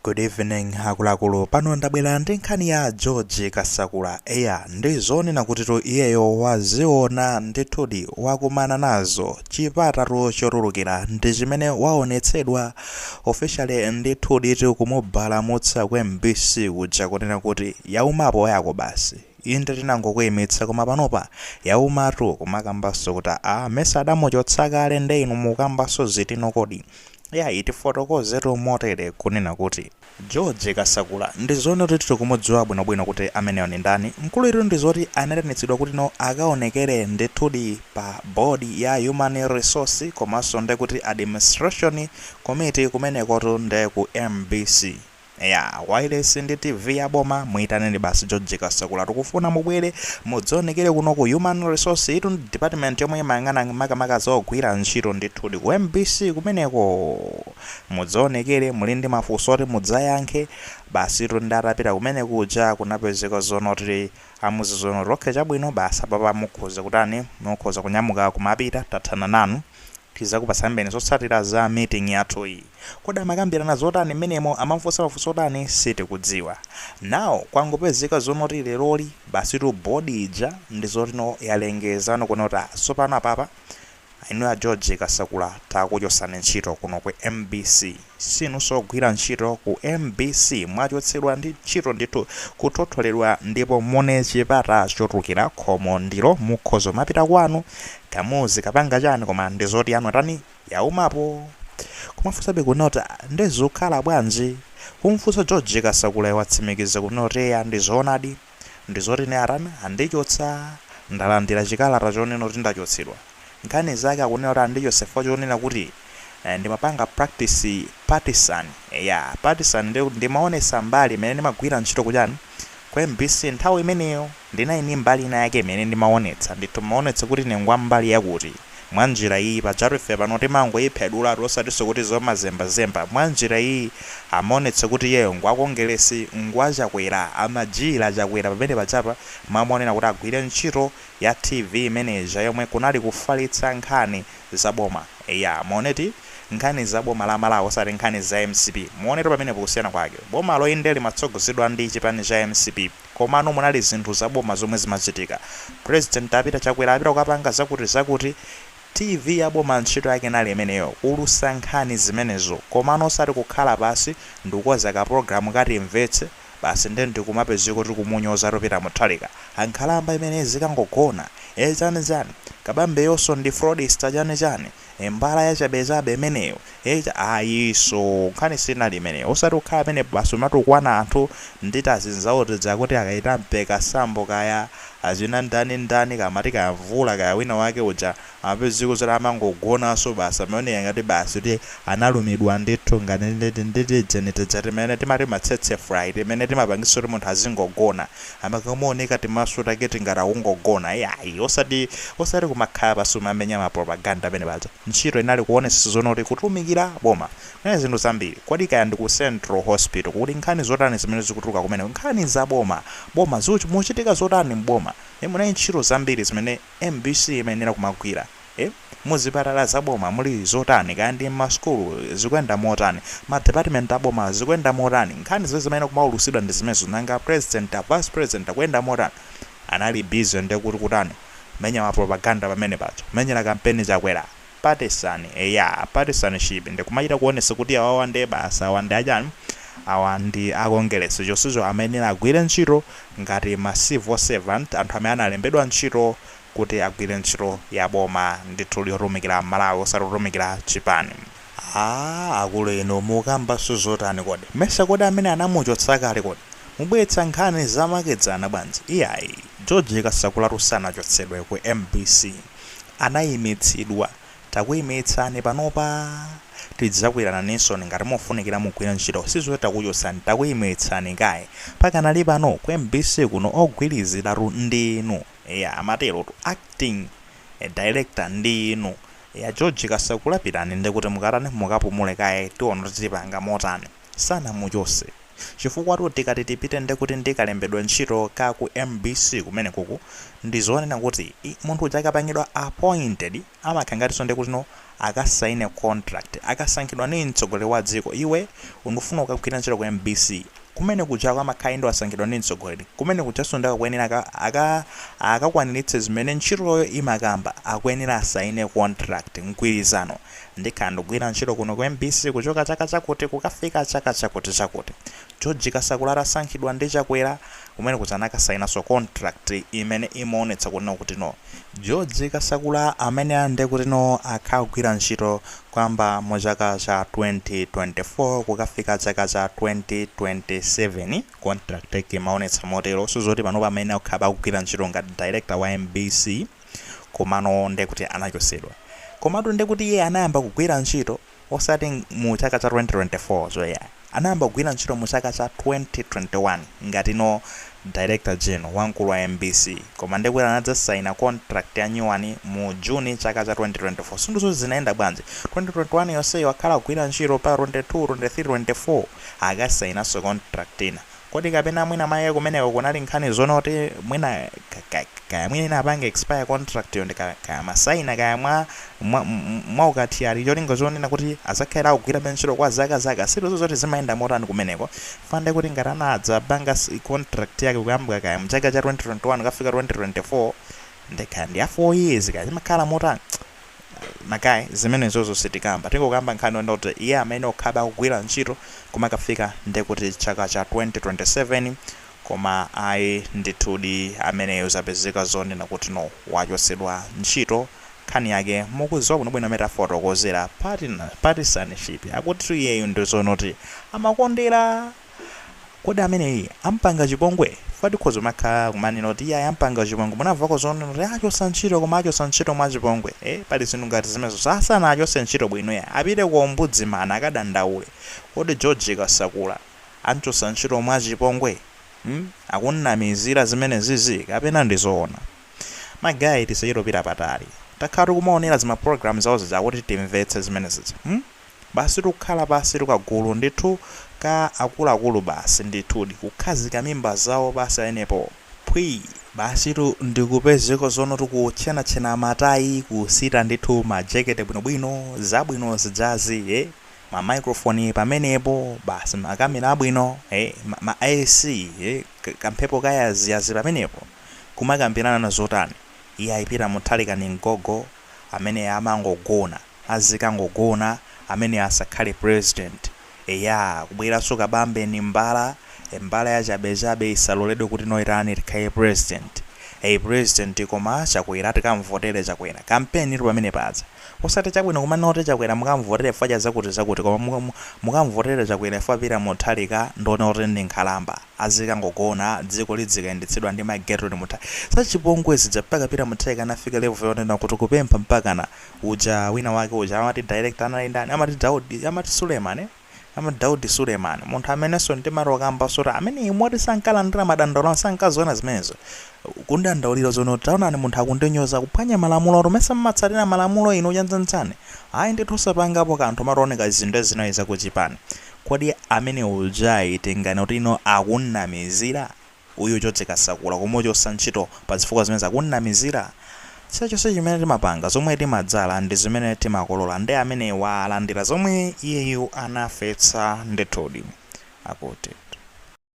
Good evening akuluakulu pano ndabwera ndi nkhani ya George Kasakula eya ndi zoona kutitu iyeyo waziona ndithudi wakumana nazo chipata chotulukira ndi chimene waonetsedwa officially ndithudi kumubalamutsa ku MBC kuja kunena kuti yaumapo yako basi inde tinangokuimitsa koma panopa yaumatu kumakambanso kuti a mesa adamuchotsa kale nde inu mukambanso zitino kodi Yayi tifotokozetu motere kunena kuti. George Kasakula ndizoonatu tikumudziwa bwino bwino kuti ameneyo ndi ndani, mkuluyitu ndizoti anaitanitsidwa kuti no akaonekere ndithudi pa board ya human resource komanso ndi kuti administration committee kumenekotu nde ku mbc. Eya, wailesi ndi TV ya boma, muitaneni basi George Kasakula. Tikufuna mubwere mudzionekere kuno ku Human Resource. Iyitu ndi department yomwe imayang'ana makamaka za ogwira ntchito ndithudi. Ku mbc kumeneko mudzionekere, muli ndi mafunso oti mudzayankhe. Basitu ndiye atapita kumene kuja kunapezeka zonoti Amuuza zonoti okay chabwino basi apapa mukhoza kutani mukhoza kunyamuka kumapita tathana nanu tizakupasambeni zotsatira za meeting yathuyi. Kodi amakambirana zotani mmenemo amamufunsa mafunso otani sitikudziwa. Now kwangopezeka zonoti leroli basitu board ija ndizoti no yalengeza no kunena kuti tsopano apapa Inu a George Kasakula takuchosani ntchito kuno ku mbc sinunso ogwira ntchito ku mbc mwachotsedwa ndi ntchito ndithu kuthotholedwa ndipo muone chipata chotulukira khomo ndilo mukhoza kumapita kwanu kaya muzikapanga chani koma ndizoti yanu atani yaumapo kumafunsabe kunoti a nde zukhala bwanji kumfunsa George Kasakulayo watsimikiza kunoti eya ndizoonadi ndizoti ine atani andichotsa ndalandira chikalata chonena kuti ndachotsedwa nkhani zake akunena kuti andichotsa chifukwa chonena kuti ndimapanga practice partisan eya partisan ndimaonetsa mbali imene ndimagwira ntchito kuchani ku mbc nthawi imeneyo ndinali ndi mbali ina yake imene ndimaonetsa ndithu maonetsa kuti ine ngwa mbali yakuti Mwa njira iyi, pajatu ife pano timangoyiphedulatu osatinso kuti zomazembazemba. Mwa njira iyi, amaonetsa kuti iyeyo ngwa Kongeresi, ngwa Chakwera, amajiyira Chakwera pamene pajapa amayenera kuti agwire ntchito ya TV imene ija yomwe kunali kufalitsa nkhani za boma. Eya, muonetu, nkhani za boma la Malawi osati nkhani za mcp. Muonetu pamenepo kusiyana kwake. Bomalo inde limatsogozedwa ndi chipani cha mcp. komano munali zinthu za boma zomwe zimachitika. President apita Chakwera apita kukapanga zakuti zakuti TV ya boma ntchito yake inali imeneyo kuulutsa nkhani zimenezo komano osati kukhala pansi ndikukonza ka program kati timvetse basi nde ndikumapezeka kuti kumunyozatu Peter Mutharika a nkhalamba imeneyi izikangogona ee chani chani kabamboyonso ndi fraudster chani chani Mbala yachabechabe imeneyo ayiso nkhani sinali imeneyo osati kukhala amene basi kumatukwana anthu ndi tazinzawo tija kuti kaya Ita Mpeka sambo kaya achina ndani ndani kamati kaya mvula kaya wina wake uja amapezeka zoti amangogonanso basi amaoneka ngati basi kuti analumidwa ndithu ngati ndi tijeni tija timene timati ma tsetse fly timene timapangisa kuti munthu azingogona Amakaoneka timaso take ti ngati akungogona iyayi osati osati kumakhala pansi kumamenya ma propaganda pamene paja ntchito inali kuonetsetsa zonena kuti kutumikira boma kunali zinthu zambiri kodi kaya ndi ku central hospital kuti nkhani zotani zimene zikutuluka kumeneko nkhani za boma boma zikuch mukuchitika zotani m'boma e munali ntchito zambiri zimene mbc imayenera kumagwira Muzipatala za boma muli zotani? Kaya ndi m'masukulu zikuyenda motani? Ma department a boma zikuyenda motani? Nkhani zimene zimayenera kumaulusidwa ndi zimenezo. Nanga a president, a vice president akuyenda motani? Anali busy ndi kuti kutani? Kumenya ma propaganda pamene paja. Kumenyera kampeni Chakwera. Partisan, eya partisanship ndi kumachita kuonetsa kuti awawa ndiye basi awa ndi achani? Awa ndi a Kongeresi chonsecho amayenera agwire ntchito ngati ma civil servant, anthu amene analembedwa ntchito kuti agwire ntchito ya boma ndithudi yotumikira aMalawi osati kutumikira chipani. Aaa akulu inu mukambanso zotani kodi? Mesa kodi amene anamuchotsa kale kodi? Mubweretsa nkhani zamakedzana bwanji? Iyayi. George Kasakulatu sanachotsedwe ku mbc. Anayimitsidwa. Takuyimitsani panopa tidzakuyitananinso ngati mufunikira mugwire ntchito sizoti takuchotsani takuyimitsani kaye. Pakanali pano ku mbc kuno ogwiriziratu ndi inu. eya amaterotu acting director ndi inu eya George Kasakula pitani ndikuti mukatani mukapumule kaye tiona kuti tipanga motani sanamuchotse chifukwatu tikati tipite ndekuti ndi kalembedwe ntchito ka ku mbc kumenekuku ndizonena kuti ii munthu uja akapangidwa appointed Amakhala ngatinso ndekuti no akasaine contract akasankhidwa ni mtsogoleri wa dziko iwe ndikufuna ukagwire ntchito ku mbc kumene kujako amakhala inde wasankhidwa ndi mtsogoleri kumene kujanso ndi akuyenera aka aka akakwaniritse zimene ntchitoyo imakamba akuyenera asaine contract mgwirizano ndikhala ndikugwira ntchito kuno ku mbc kuchoka chaka chakuti kukafika chaka chakuti chakuti George Kasakula atasankhidwa ndi Chakwera Kumene kuja anakasainanso contract imene imaonetsa kunena kuti no George Kasakula ameneyu nde kuti no akhala akugwira ntchito kuyamba mu chaka cha 2024 kukafika chaka cha 2027 contract yake imaonetsa motero osati zoti panopa amene akhala akugwira ntchito ngati director wa mbc komano nde kuti anachotsedwa komatu nde kuti iye anayamba kugwira ntchito osati mu chaka cha 2024 cho iyayi anayamba kugwira ntchito mu chaka cha 2021 ngati no Director General wamkulu wa mbc koma nde kuti anadzasaina contract ya new one mu June chaka cha 2024 sindudziwa zoti zinayenda bwanji 2021 yonseyi wakhala akugwira ntchito pa 22, 23, 24 akasainaso contract ina. Kodi kapena mwina mwake kumeneko kunali nkhani zonena kuti mwina kaya mwina inapanga expire contract yo ndi ka, kaya amasaina kaya mwa, mwa, mwa ukathyali cholinga zonena kuti azakhala akugwirabe ntchito kwa zaka zaka sitidziwa zoti zimayenda motani kumeneko chifukwa nde kuti ngati anadzapanga contract yake kuyambwa kaya mchaka cha 2021 kukafika 2024 nde kaya ndi ya 4 years kaya zimakhala motani magaye zimenezozo sitikamba tingokamba nkhani yonena kuti iye amayenera akhalebe akugwira ntchito kumakafika ndekuti chaka cha 2027 koma ayi ndithudi ameneyo zapezeka zonena kuti no wachotsedwa ntchito khani yake mukuziwa bwinobwino amene tafotokozera patina partisanship akutitu iyeyo ndizonoti amakondera kodi ameneyi ampanga chipongwe chifukwa tikhoza kumakhala kumanena kuti iye ampanga chipongwe munamvako zonena kuti achosa ntchito koma achosa ntchito mwa chipongwe eh pali zinthu ngati zimenezo sanasana achose ntchito bwino ya apite kwa ombudsman akadandaule kodi George Kasakula amchosa ntchito mwa chipongwe hmm? akumunamizira zimenezizi kapena ndi zoona magayi tisachitopita patali takhala tikumaonera zima program zawo zija kuti timvetse zimenezizi hmm? Basi tu kukhala pansi tu kagulu ndithu ka akuluakulu basi ndithudi kukhazika mimba zawo basi pamenepo phwii! Basitu ndikupezeka zonoti kutchenatchena matayi kusita ndithu ma jekete bwinobwino zabwino zijazi ee ma microphone pamenepo basi ma camera abwino ee ma ma AC ee kamphepo ka yaziyazi pamenepo kumakambirana zotani iyayi Peter Mutharika ndi gogo amene amangogona azikangogona ameneyo asakhale president eya kubweraso Kabambe ndi mbala e mbala yachabechabe isaloledwe kuti noitani ikhale president e president koma Chakwera tikamvotere Chakwera kampeni ili pamene paja osati chabwino kumanena kuti Chakwera mukamvotere chifukwa cha zakuti zakuti koma mukamvotere Chakwera chifukwa Peter Mutharika ndi zonena kuti ndi nkhalamba azikangogona dziko lidzikayendetsedwa ndi mai Gertrude Mutharika zachipongwe zija mpaka Peter Mutharika anafika level yonena kuti kupempha mpakana uja wina wake uja amati director anali ndani amati Daudi amati Suleman eh? Daudi Suleman munthu amenenso ndimati ndikambaso za ameneyi moti sankalandira madandaulo sankaziona zimenezo kumudandaulira zonoti taonani munthu akundinyoza kuphwanya malamulo oti mesa mumatsatira malamulo inu chanichani ayi ndithu osapangapo kanthu kumaoneka zinthu zinali zakuchipani Kodi amene uja eti tinganene kuti ino akunnamizira? Uyu George Kasakula kumuchosa ntchito pa zifukwa zimenezi akunnamizira? Chilichonse chimene timapanga, zomwe timadzala ndi zimene timakolola nde amenewa alandira zomwe iyeyu anafetsa ndithudi. Akuti.